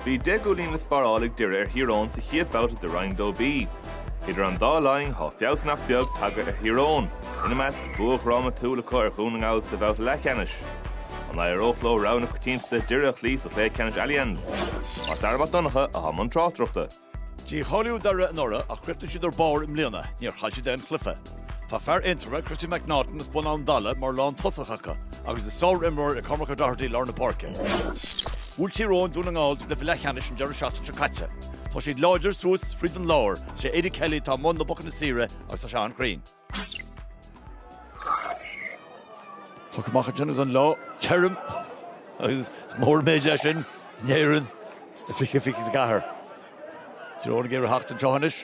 Bhí deich gcúilín le sparáil ag Doire ar Thír Eoghain sa chéad bhabhta de Roinn 2B. Idir an dá linn tá feabhas nach beag tagtha ar Thír Eoghain, ina measc bua drámatúil acu ar Dhún na nGall sa bhabhta leathcheannais. An éireoidh leo rogha na coitiantachta Doire a chloí sa chluiche ceannais Allianz? Mac Dara Mac Donncha atá i mbun tráchtaireachta. Dícháilíodh Doire anuraidh ach chríochnaigh siad ar barr i mbliana, níor chaill siad aon chluiche. Tá fear Aontroma, Christy McNaughton as Bun Abhann Dalla mar lán tosach acu agus is sár-imreoir é Cormac O'Doherty lár na páirce. Bhuail Tír Eoghain Dún na nGall sa gcluiche leath cheannais an deireadh seachtaine seo caite. Tá siad láidir suas fríd an lár, is é Eddie Kelly atá i mbun na bpocanna saoire agus tá sé an-chruinn. Tá an chumhacht ansin is an lá tirim agus is mór an méid é sin in Éirinn i 2024. Tír Eoghain ag iarraidh a theacht anseo anois.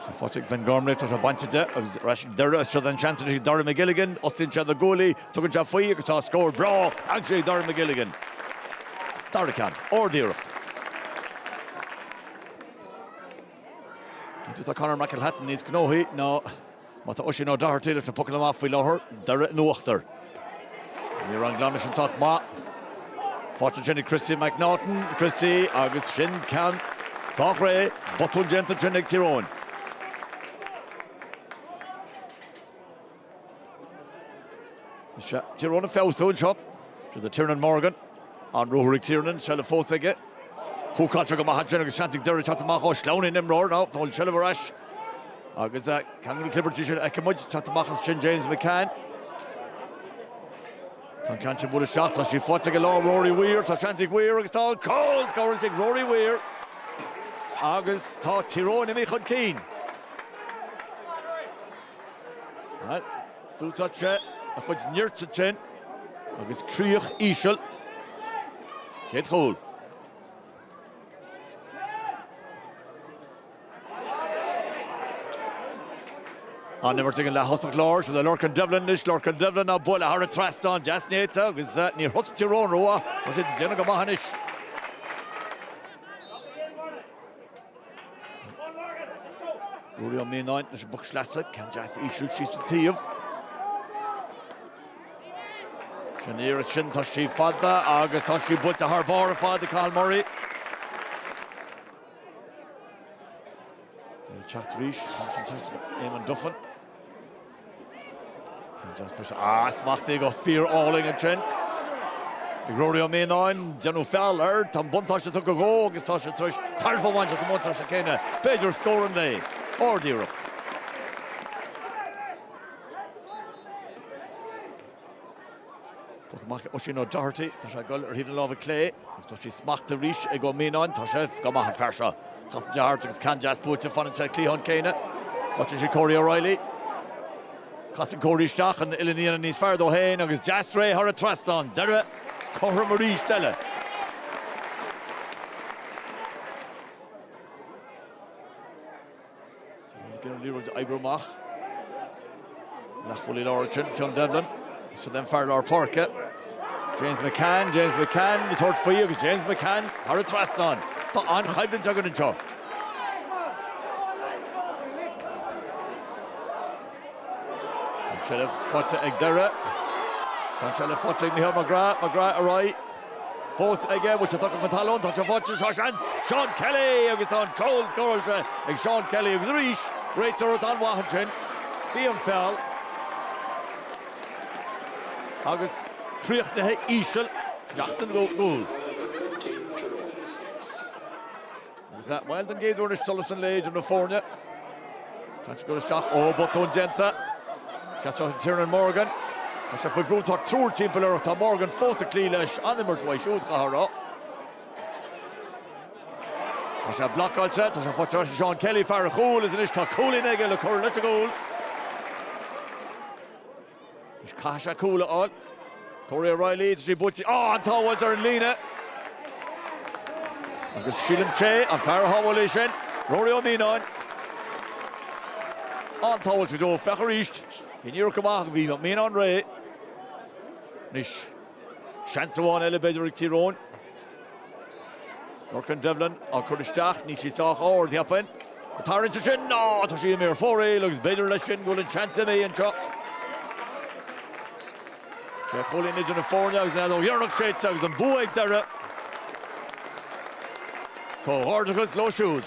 Tá faighte ag Ben Gormley, tá sé bainte de agus ar ais ag Doire is seo é an seans anois ag Darragh McGilligan, fhostaíonn sé do Gooley, tugann sé faoi agus tá scór breá aimsithe ag Darragh McGilligan. Doire chun cinn, ard-iarracht. Cinnte tá Conor McElhatton níos gnóthaí ná má tá Oisín O'Doherty leis na pocanna amach faoi láthair Doire in uachtar. Ní raibh an glanadh sin sách maith. Faighte ansin ag Christy McNaughton, Christy, agus sin ceann sách réidh, botún déanta ansin ag Tír Eoghain. Tír Eoghain ag feabhsú anseo. Seo é Tiernan Morgan. An-ruathar ag Tiernan. Seilbh fós aige. Húcáilte go maith ansin agus seans ag Doire teacht amach. Ó sleamhnaigh an imreoir má tá faighte an tseilbh ar ais. Agus ceann de na clibirtí sin a fheiceann muid teacht amach as sin James McCann. Tá an ceann sin buailte isteach. Tá sí faighte i lár ag Rory Weir. Tá seans ag Weir agus tá an cúl scóráilte ag Rory Weir. Agus tá Tír Eoghain imithe chun cinn. D'úsáid sé a chuid nirt ansin agus críoch íseal. Céad chúl. An-imirt ag an leath-thosach láir seo é Lorcan Devlin anois. Lorcan Devlin á bualadh thar an trasnán deas néata agus níor thosaigh Tír Eoghain rómhaith. Tá siad ag déanamh go maith anois. Ruairí Ó Mianáin leis an bpoc sleasa, ceann deas íseal síos sa taobh. Sin iarracht sin, tá sí fada agus tá sí buailte thar barr ar fad ag Cathal Murray. Teacht arís, Eamonn Duffin. Ah, smachtaithe go fíor álainn ansin ag Ruairí Ó Mianáin. Déanadh feall air. Tá an buntáiste tugtha dhó agus tá sé tar éis tairbhe a bhaint as an mbuntáiste céanna. B'fhéidir scórann Lae ard-iarracht. Poc amach ag Oisín Ó Doherty. Tá sé ag goil ar thaobh na láimhe clé agus tá sí smachta arís ag Ó Mianáin. Tá sé go maith an fear seo. Casann sé thart agus ceann deas buailte fanann sé ag an gcliathán céanna. Faigheann sé Corey O'Reilly. Casann Corey isteach an uillinn níos fearr dó féin agus deas réidh thar an trasnán. Doire cothrom arís eile. Déanann an liathróid a oibriú amach. Lachlan ansin, Fionn Devlin, don fhear lár páirce. James McCann, James McCann, ag tabhairt faoi agus James McCann thar an trasnán. Tá an-choimhlint againn anseo. An tseilbh faighte ag Doire. Tá an tseilbh faighte ag Micheál McGrath. McGrath ar aghaidh. fós aige, bhfuil sé tugtha chun talún, tá sé faighte, tá seans, Seán Kelly agus tá an cúl scóráilte ag Seán Kelly agus arís réiteoir an-mhaith ansin, bhí an feall agus críochnaithe íseal, isteach san gcúl. Agus bhuel don gcéad uair anois solas an lae idir na foirne. Caite go isteach? Ó, botún déanta. Is ea seo Tiernan Morgan. Tá sé faoi bhrú, tá triúr timpeall air ach tá Morgan fós ag cloí leis, an-imirt uaidh siúd, chaithfeá a rá. Tá sé blocáilte, tá sé faighte freisin, Seán Kelly, fear an chúil, is anois tá cúilín aige le cur leis an gcúl. Caithfidh sé cúl a fháil. Corey O'Reilly is í buailte, ó, an-tsábháilt ar an líne. Agus sílim, sé an fear a shábháil é sin, Rory Ó Mianáin. An-tsábháilt go deo. Féach arís. Bhí an iarracht go maith ach bhí Ó Mianáin réidh. Anois. Seans amháin eile b'fhéidir ag Tír Eoghain. Lorcan Devlin á chur isteach, níl sí sách ard, cheapfainn. An tarraingt ansin, ná tá sí imithe ar fóraoil agus b'fhéidir leis sin go bhfuil an seans imithe anseo. Sé chúilín idir na foirne agus an fhead dheireanach séidte agus an bua ag Doire. Comhghairdeachas leo siúd.